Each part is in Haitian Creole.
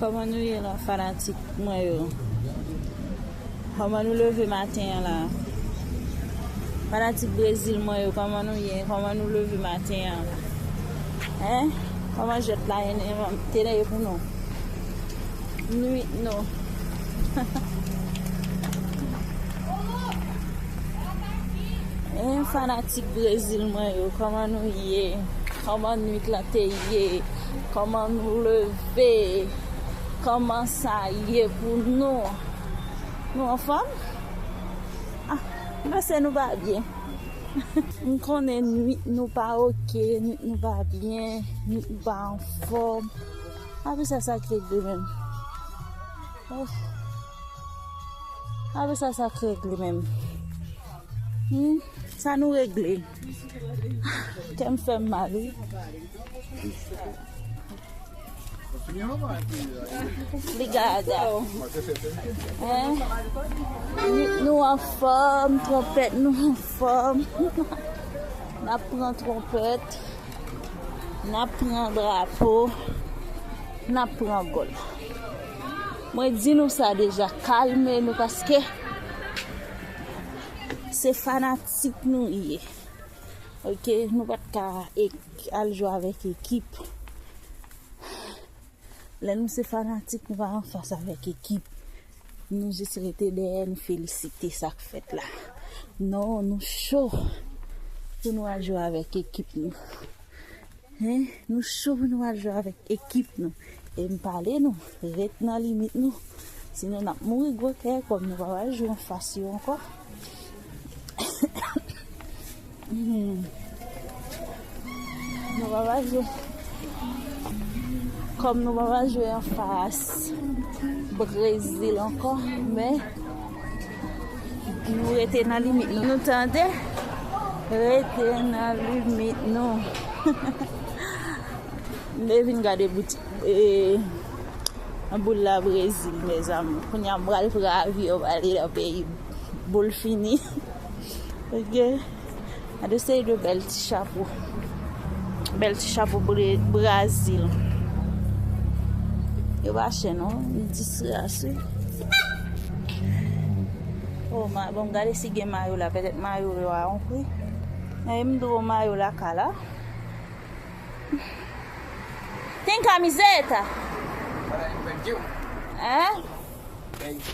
Koman nou ye la fanatik mwen yo Koman nou leve maten an la Fanatik brezil mwen yo koman nou ye Koman nou leve maten an Hein Koman jwèt la ye Tene yo pou nou Nwit nou Eeh fanatik brezil mwen yo kòman nou ye kòman nwit lan te ye kòman nou leve kòman sa ye pou nou nou anfòm ah m panse nou pa byen m konnen nwit nou pa ok nwit nou pa byen nwit nou pa anfòm apre sa sa k regle menm oh. Ape sa sak regle menm. Humm sa nou regle. Kèm fèm mal wi. Li gaga. Nit nou anfòm, twonpèt nou anfòm. Nap pran twonpèt. Nap pran drapo. Nap pran gòl. Mwen di nou sa deja kalme nou paske se fanatik nou ye ok nou pat ka al jwe avèk ekip lè nou se fanatik nou pa anfas avèk ekip nou jis rete dèyè nou felisite sak fèt la non nou cho pou nou al jwe avèk ekip nou. Hein nou cho pou nou al jwe avèk ekip nou e m pale nou ret nan limit nou sinon nap mouri gwo kè kòm nou pa pral jwe anfas yo ankò nou pa pral jwe kòm nou pa pral jwe anfas Brezil ankò men Nou rete nan limit nou nou tande Rete nan limit nou Mwen vin gade bout Boul la brezil mezanmi Koun ya m bral pran avyon Bali la peyi boul fini Ok Gade yon seri de bèl ti chapo. Bèl ti chapo Brazil. Yo pa chè non. Yon disras wi. Oh ma, bon gade si gen mayo la. Petèt mayo yo a yon pri. Mwen yon dro mayo la ka la. Tem camiseta? Thank you. Eh? Thank you.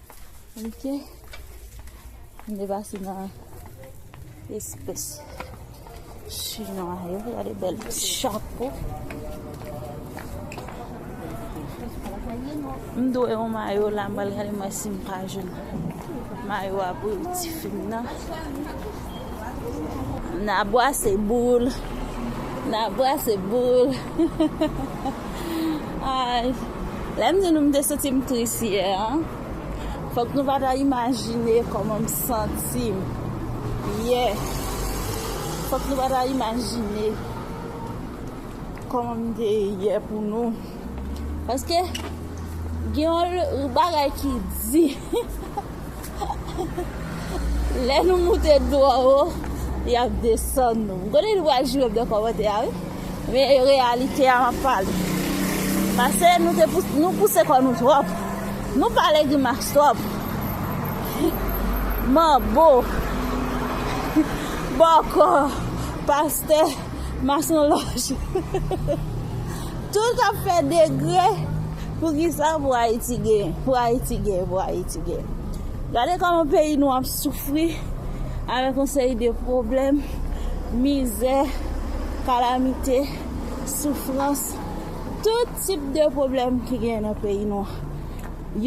Ok. M depase nan espès chinwa yo. Gade bèl chapo. M dwe yon mayo la m pral gade mwen si m pa jwenn mayo a pou ti fi m nan. Na bwase boul. Na bwase boul. Ay. Lè m di nou m te santi m tris yè an, fòk nou pa ta imajine kòman m santi m yè. Fòk nou pa ta imajine kòman m te yè pou nou. Paske gen yon bagay ki di lè nou moute dlo an wo y ap desann nou. M konnen nou pral jure m nan kòmantè a wi. Men e reyalite a m ap pale. Pase nou te pouse nou pouse kò nou twòp. Nou pale grimas twòp. Manbo, bòkò, pastè, masonlòj. Tout ap fè degre poukisa pou ayiti gen pou ayiti gen pou ayiti gen gade kòman peyi nou ap soufri avèk yon seri de pwoblèm mizè kalamite soufrans tout tip de pwoblèm ki gen nan peyi nou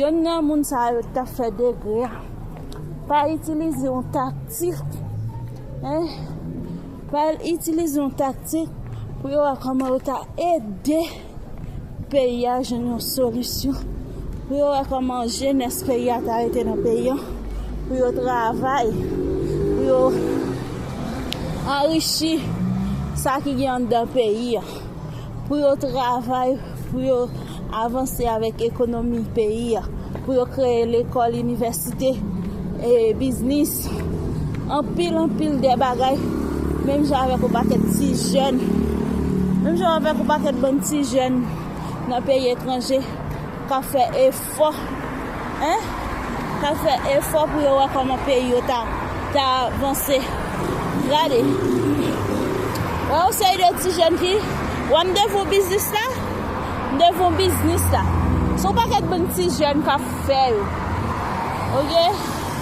yonn nan moun sa yo tap fè degre a pa itilize yon taktik. Pral itilize yon taktik pou yo wè kòman yo ka ede peyi a jwenn yon solisyon, pou yo wè kòman jenès peyi a ka rete nan peyi a, pou yo travay, pou yo anrichi sa ki gen anndan peyi a. pou yo travay pou yo avanse avèk ekonomi peyi a, pou yo kreye lekòl, inivèsite, biznis, anpil anpil de bagay, menm jan avèk yon pakèt ti jèn, menm jan avèk yon pakèt bann ti jèn nan peyi etranje k ap fè efò. Fò hein ta fè efò pou yo wè kòman peyi yo ta ta vanse gade wè yon seri de ti jèn fi wè m devan biznis la m devan biznis la se yon pakèt bann ti jèn kap fè yo ok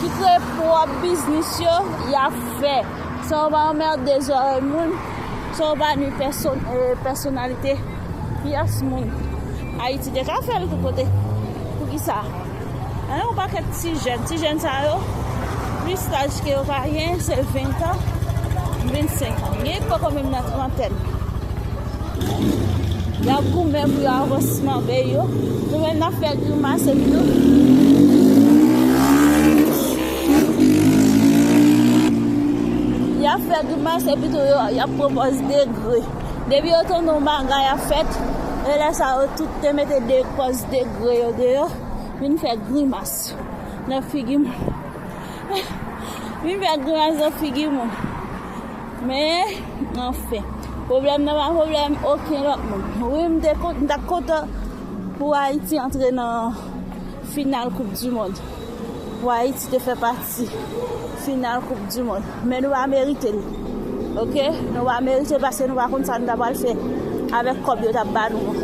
ki kreye pwòp biznis yo yap fè san yo pa anmerde zòrèy moun san yo pa nwi pèsonalite. Pyès moun Ayiti te ka fè l tout kote. Poukisa? An yon pakèt ti jèn, ti jèn sa yo, plis laj ke yo ka gen se ventan, vennsenkan. Gen ki poko menm nan trantèn. Y ap goumen pou yo avansman peyi yo. Nou menm n ap fè grimas epi nou. Y ap fè grimas epi tou yo y ap pwopòz degre. Depi yo tande yon bagay ap fèt, e lè sa yo tout te mete de kòs degre yo deyò, vin fè grimas nan figi moun. Vin fè grimas nan figi moun. Men, anfen, pwoblèm nan pa pwoblèm oken lòt moun. Wi, m te kontan, m t ap kontan pou Ayiti antre nan final koup di mond, pou Ayiti te fè pati. Ti final koup du mond men nou pa merite l ok nou pa merite l paske nou pa konn sa nou ta pral fè avèk kòb yo tap ba nou an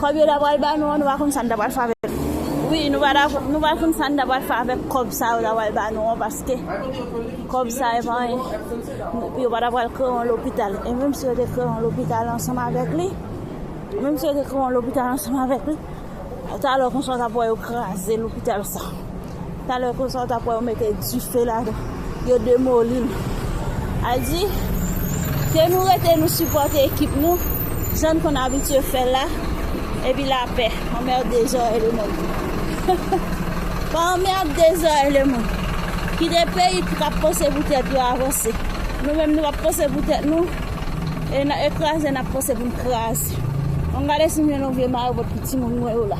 kòb yo ta pral ba nou an nou pa konn sa nou ta pral fè avèk l wi nou pa nou pa konn sa nou ta pral fè avèk kòb sa yo ta pral ba nou an paske kòb sa e pa anyen epi yo pa ta pral kreye yon lopital e menm si yo te kreye yon lopital ansanm avèk li menm si yo te kreye yon lopital ansanm avèk li talè konsa w tap wè yo kraze lopital sa. Talè konsa ou tap wè yo mete dife ladan yo demolil Aldi ke nou rete nou sipòte ekip nou jann konn abitye fèl la epi lapè anmerde zòrèy lemond pa anmerde zòrèy lemond kite peyi kap panse pou tèt yo avanse nou menm nou pap panse pou tèt nou e nan ekraze nap panse poun kraze an gade sim jwenn yon vye mayo pot pou timoun mwen yo la.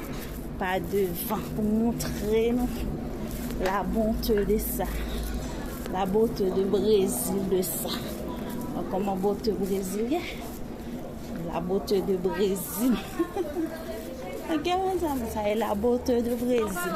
pa devan pou moutre nou la bonte de sa la bote de brezil de sa an koman bote brezil ye la bote de brezil an gen mwen zanm sa e la bote de brezil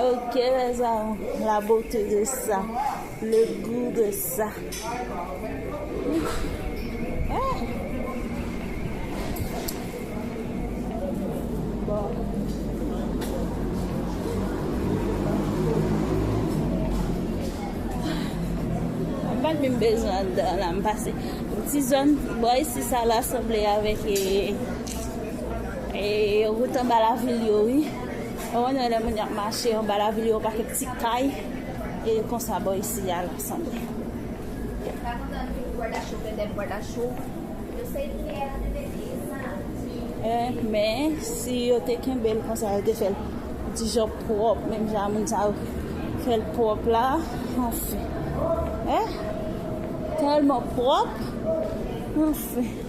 Oh que les amours, la beauté de ça, le goût de ça. Mwen mwen bezwen dan la m pase. Ti zon, bwa isi sa la sanble avèk e. E rout anba lavil yo wi. Mwen wonè lè moun yap mache anba lavil yo pa kèk ti kay. E konsa bò isi a lap sanble. Men si yo te kenbel konsa yo te fèl dijan pwòp menm jan moun sa yo fèl pwòp la. Anfen. Telman pwòp. Anfen.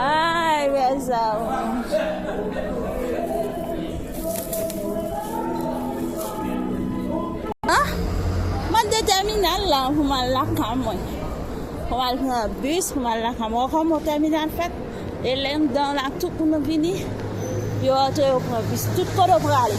Ay rèza oh. Ah, mwen de terminal la pou mwen la kan mwen. Pou mwen pran bus pou mwen la kan mwen. Kon mwen terminal fèt. E lèm dan la tout pou mwen vini. Yo antre yo pran bus. Tout kodo prale.